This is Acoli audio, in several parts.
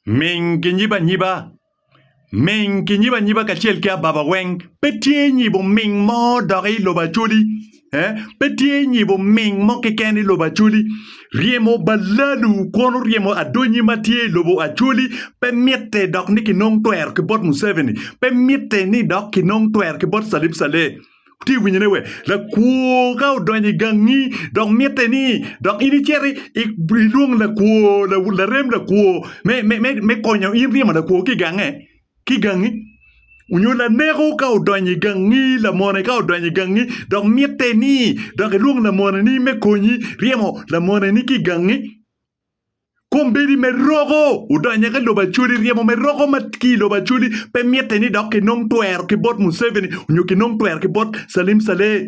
Ming ki nyiba anyiba Ming ki nyiba anyiba kacel ki ababa weng Pe tye nyibo ming mo dok i lobo Acholi eh Pe tye nyibo ming mo keken i lobo Acholi Ryemo balalu kwon oryemo adonyi ma tye i lobo Acholi Pe mitte dok ni kinong twero ki bot Museveni Pe mitte ni dok kinong twero ki bot Salim Saleh Wutye ka winyone wee? Lakwor ka odonyo i gangi dok mitte ni dok in icit ilwong lakwor, larem lakwor me konyo in ryemo lakwor ki i gange, ki i gangi? Nyo laneko ka odonyo i gangi, lamone ka odonyo i gangi dok mitte ni dok ilwong lamoneni me konyi ryemo lamoneni ki i gangi? Kombeddi me roko odonyo ki lobo Acholi, ryemo me roko ma ki i lobo Acholi pe mitte ni dok kinong twero ki bot Museveni nyo kinong twero ki bot Salim Saleh.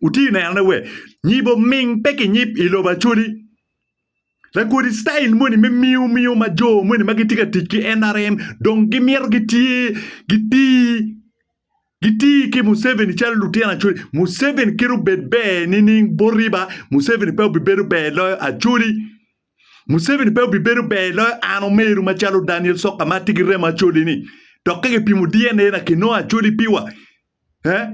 Wuti nenone we? Nyibo ming pe kinyib i lobo Acholi. Lakodi style moni me miyo miyo ma jo moni ma gitye ka tic ki NRM dong gimito gitye gitii. Giti ki Museveni calo lutino Acholi. Museveni kit obed ber nining bot riba, Museveni pe obibedo ber loyo Acholi. Museveni pe obibedo ber loyo an omeru macalo Daniel Soka ma tye ki remo Acholi-ni. Dok ka kipimo DNA na kinongo Acholi piwa, eh?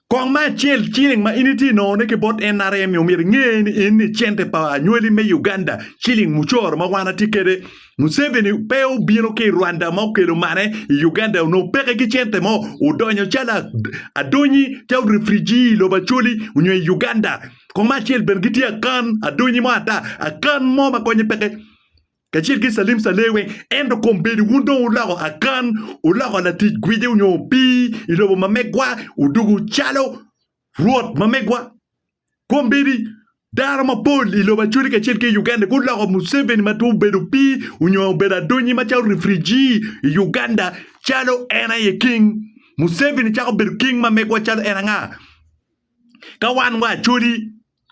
Kong ma acel ciling ma in itye nongone ki bot NRM-mi omyero inge ni en ni cente pa anywali me Uganda ciling mucoro ma wan atye kede. Museveni pe obino ki Rwanda ma okelo mane i Uganda onongo peke ki cente mo odonyo calo adonyi calo refrigee i lobo Acholi onyo i Uganda. Kong ma acel bene gitye akan adonyi mo ata akan mo ma konye peke. kacel ki calim cale weng, ento kombeddi wun dong wuloko Akan, wuloko latic gwici nyo opii i lobo ma megwa, wudugo calo rwot ma megwa. Kombeddi dano mapol i lobo Acholi kacel ki i Uganda guloko Museveni ma twero bedo opii nyo obedo adonyi macalo refugee i Uganda calo en aye king. Museveni cako bedo king ma megwa calo en anga ka wan wa Acholi?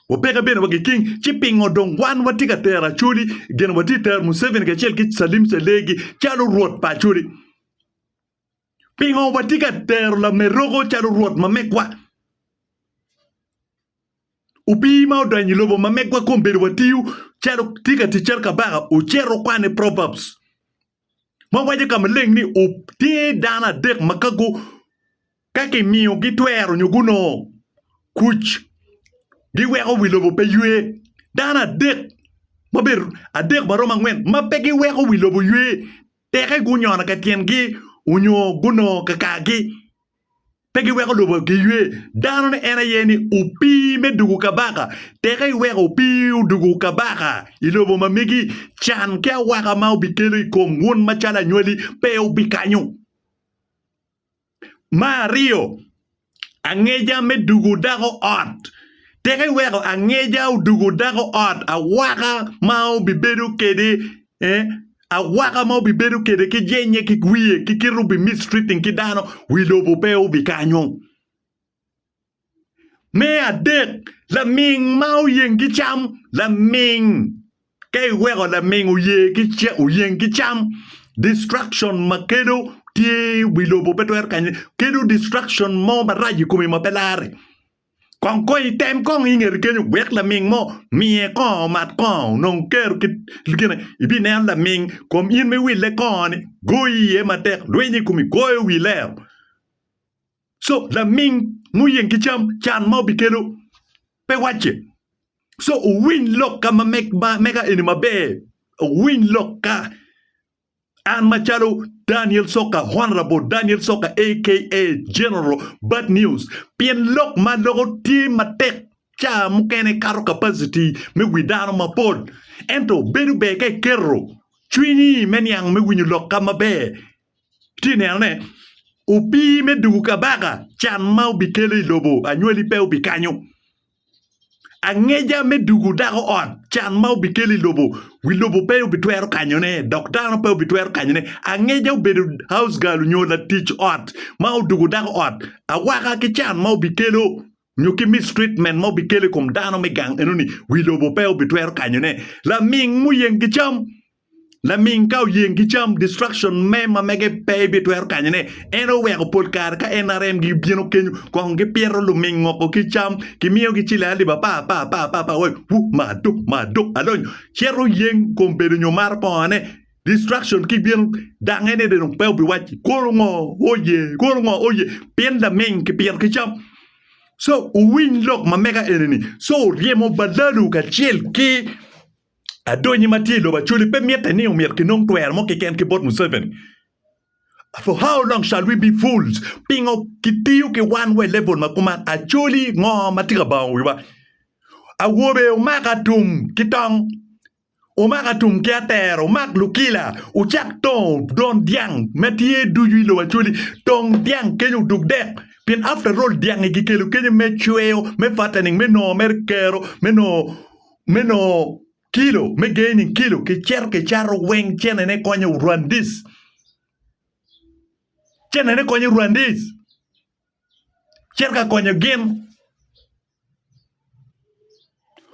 Wapeke bene wa giking ci pingo dong wan watye ka tero Acholi gin watye tero Museveni kacel ki Salim Selegi calo rwot pa Acholi? Pingo watye ka tero Lameroko calo rwot ma megwa? Opii ma odonyo i lobo ma megwa kombedo watiyo calo tye ka tic calo kabaka ocito kwane Proverbs. ma waco i ka maleng ni tye dano adek ma ka gu ka kimiyogi twero nyo gunongo kuc giweko wi lobo pe ywe dano adek ma obedo adek ma romo angwen ma pe giweko wi lobo ywe teke gunyono ka tyengi onyo gunongo kakagi. pe giweko lobo giywe. Dano ni en aye ni opii me dugu kabaka. Teke iweko opii odugu kabaka i lobo ma megi, can ki awaka ma obikelo i kom wun macalo anywali pe obikanyo. Ma aryo, angeja me dugu dako ot. Teke iweko angeja odugu dako ot, awaka ma obibedo kede eh, Awaka ma wubibedo kwede ki jenye ki wiye ki kite wubimistreating ki dano, wi lobo pe wubikanyo. Me adek, laming ma oyeng ki cam, laming ka iweko laming oye ki ca, oyeng ki cam, destruction ma kelo tye wi lobo pe twero kanye, kelo destruction mo marac i komi ma pe larre. Kong kony i tem kong ingete kenyo wek laming mo miye kongo omat kongo onong kero kit gine ibineno laming kom in me wille kongo ni goyo iye matek lwiny i kumi goyo wi lero so laming muyeng ki cam can ma obikelo pe wacce so owiny lok ka ma mega eni maber owiny lok ka An macalo Daniel Soka, Honorable Daniel Soka aka General Bad News, pien lok ma aloko tye matek ca mukene kato capacity me wi dano mapol. Ento bedo ber ka iketo cwinyi me niang me winyo lok ka maber. Itye neno ne, opii me dugu kabaka can ma obikele i lobo anywali pe obikanyo. Angeja me dugo dako ot, can ma obikelo i lobo, wi lobo pe obitwero kanyone, dok dano pe obitwero kanyone. Angeja obedo house girl nyo latic ot ma odugo dako ot, awaka ki can ma obikelo nyo ki mistreatment ma obikelo i kom dano me gang enoni, wi lobo pe obitwero kanyone. Laming muyeng ki cam. Laming ka oyeng ki cam destruction me ma mege pe ibitwero kanyone. En oweko pol kare ka NRM gi bino kenyo kong gi pito luming ngoko ki cam ki miyo gi cile alip apa apa apa apa apa wai wu ma do ma do alony cito oyeng kom bedo nyo maro kongo ne destruction ki bino dang en ede dong pe obi waci kono ngo oye kono ngo oye pien laming ki pito ki cam so uwiny lok ma mega enini so ryemo balalu kacel ki Adonyi ma tye i lobo Acholi pe mitte ni omyero kinong twero mo keken ki bot Museveni. For how long shall we be fools? Pingo kitiyo ki wan wa i level ma kuman? Acholi ngo ma tye ka bango wiwa? Awobe omaka tum ki tong, omaka tum ki atera, omak lukila, ocak tongo don dyang ma tye ducu i lobo Acholi. Tong dyang kenyo odug dek pien after all dyangi kikelo kenyo me cweyo, me fattening, me nongo mere kero, me nongo me nongo kilo, me gaining kilo, kicito kicato weng cenene konyo Rwandese. Cenene konyo Rwandese. Cito ka konyo gin.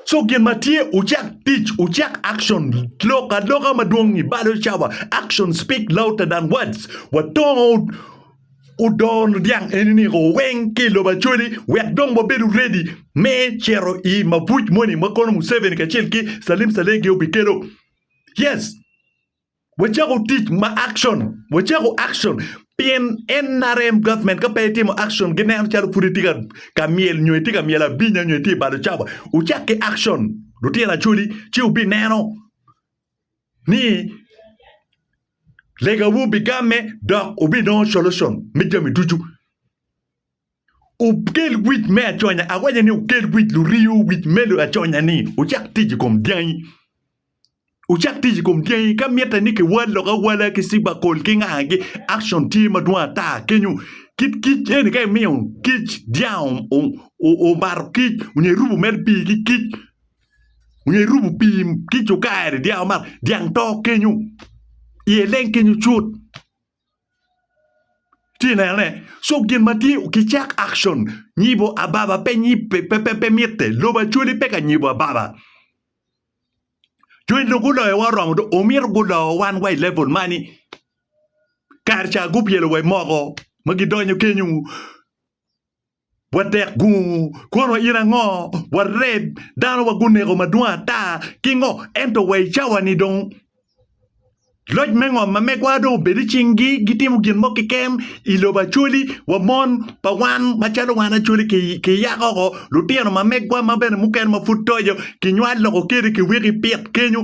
So gin ma tye ucak tic, ucak action, lok aloka madwong-ngi balo cawa action speak louder than words. Watongo Odoo niang eni niko weng ki i lobo Acholi wek dong wabedo ready me cito i mabuc moni ma kono Museveni kacel ki Salim Saleh gi obikelo. Yes, wacako tic ma action, wacako action pien NRM government ka pe etimo action gineno calo pud etye ka ka myel nyo etye ka myel abinya nyo etye balo cawa. Wucak ki action lutino Acholi ci wubineno. ni legawu bigamme dok wubinongo solution me jami ducu. Wukel wic me aconya, awaco ni wukel wic luriyo, wic me aconya ni wucak tic i kom dyangi. Wucak tic i kom dyangi ka mitte ni kiwal lok awala ki ciber coal ki nga ki action tye madwong ata kenyo. Kit kic eni ka imiyo kic dyang omato kic onyo irubo mere pii ki kic Onyo irubo pii kic okayo ni dyang man dyang to kenyo iye leng kenyo cut ci neno ne so gin ma tye ki cak action nyibo ababa pe nyib pe pe pe pe mitte lobo Acholi pe ka nyibo ababa jo eni guloyo wa oromo dong omito guloyo wan wa ilevel mani kare ca gupyelo wa imoko ma gidonyo kenyo Watek gungu, kwon wayir ango? Wareb, dano wa guneko madwong ata ki ngo? Ento wa i cawa-ni dong, loc me ngom ma megwa dong obedo i cing-gi, gitimo gin mo keken i lobo Acholi wa mon pa wan macalo wan Acholi ki, ki Yakobo, lutino ma megwa ma bene mukene ma pud toco, kinywal loko kede, kiwiki pit kenyo,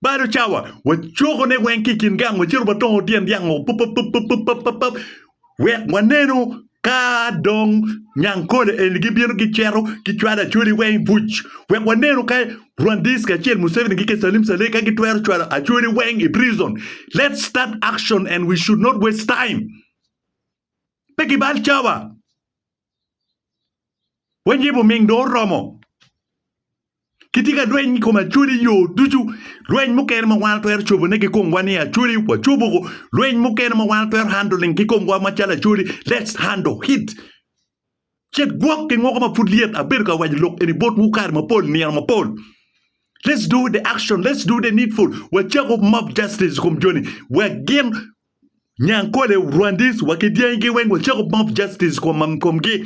Balo cawa, wacokone weng ki i kin gang, wacito watongo tyen dyango papapapapapap, wek wanenu ka dong Nyankole eni gibino gicito gicwalo Acholi weng buc, wek wanenu ka Rwandese kacel Museveni ki Salim Saleh ka gitwero cwalo Acholi weng i prison. Let's start action and we should not waste time. Pe kibal cawa. Weny yib oming dong oromo. Kitye ka rweny i kom Acholi yo ducu. Rweny mukene ma wan watwero cobone ki komwa ni Acholi wacobo woko. Rweny mukene ma wan watwero handling ki komwa macalo Acholi let's handle it. Cet gwok ki ngoko ma pud lyet abedo ka waco lok eni botwu kare mapol, nino mapol. Let's do the action, let's do the needful. Wacako mob justice i kom joni wek gin Nyankole, Rwandese wa ki dyangi gi weng wacako mob justice for Mamkom gi.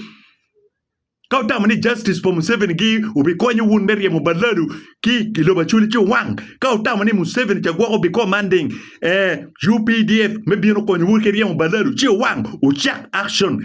Ka wutamo ni justice for Museveni gi obikonyo wun me ryemo Balalu ki i lobo Acholi ci owang. Ka wutamo ni Museveni ca gwoko bi commanding eh, UPDF me bino konyo wu ki ryemo Balalu ci owang. Wucak action.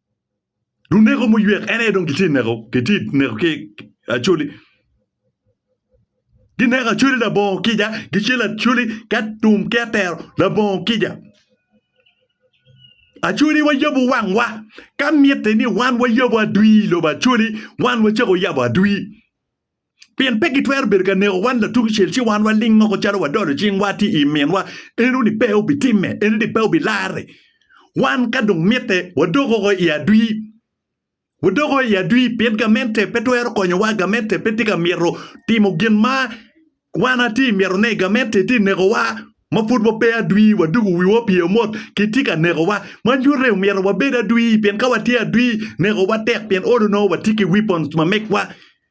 Luneko muywek en aye dong kitye neko, kitye neko ki Acholi. Gineko Acholi labongo kica, gicelo Acholi ki atum ki atero labongo kica. Acholi wayabo wangwa ka mitte ni wan wayabo adwi i lobo Acholi, wan wacako yabo adwi. Pien pe gitwero bedo ka neko wan latukucel, ci wan waling moko calo wadolo cingwa ti i minwa, eno ni pe obitimme, eno ni pe obilarre. Wan ka dong mitte, wadok oko i adwi. Wadok oko i adwi, pien gamente pe twero konyowa, gamente pe tye ka mito timo gin ma wan ati mitone, gamente ti nekowa ma pud wape adwi, wadoko wiwa pi amot, kitye ka nekowa. Ma nyutte omito wabed adwi, pien ka watye adwi, nekowa tek, pien olo nongo watye ki weapons ma megwa.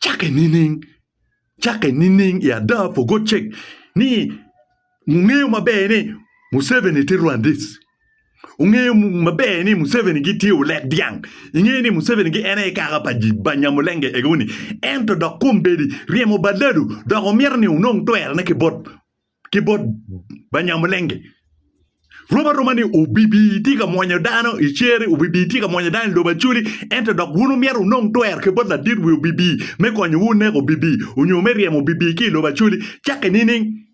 Cakke nining? Cakke nining i ada pu gocek ni wungeyo maber ni Museveni tye Rwandese? Wungeyo maber ni Museveni gitye olek dyang? Ingeyo ni Museveni gi en aye kaka pa Banyamulenge egoni? Ento dok kombeddi ryemo baladu dok wumito ni wunong twerone ki bot ki bot Banyamulenge. Rom aroma ni obibi itye ka mwonyo dano i cere, obibi itye ka mwonyo dano i lobo Acholi, ento dok wun wumyero wunong twer ki bot ladit wi obibi me konyowu neko obibi onyo me ryemo obibi ki i lobo Acholi. Cakke nining?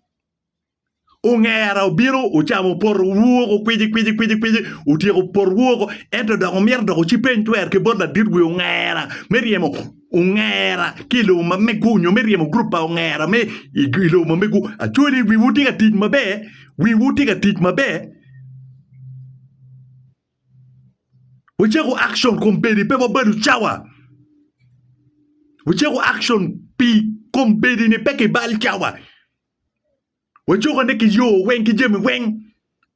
Ongera obino ocamo potowu woko kwiji kwiji kwiji kwiji, otyeko potowu woko, ento dok wumyero dok wucibbe eny twer ki bot ladit wi ongera me ryemo ongera ki i lobo ma mego nyo me ryemo gurup pa ongera me i lobo ma mego. Actually wiwu tye ka tic maber, wiwu tye ka tic maber. Wacako action kombeddi pe wabedo cawa. Wacako action pi kombeddi-ni pe kibal cawa. Wacokone ki yo weng ki jami weng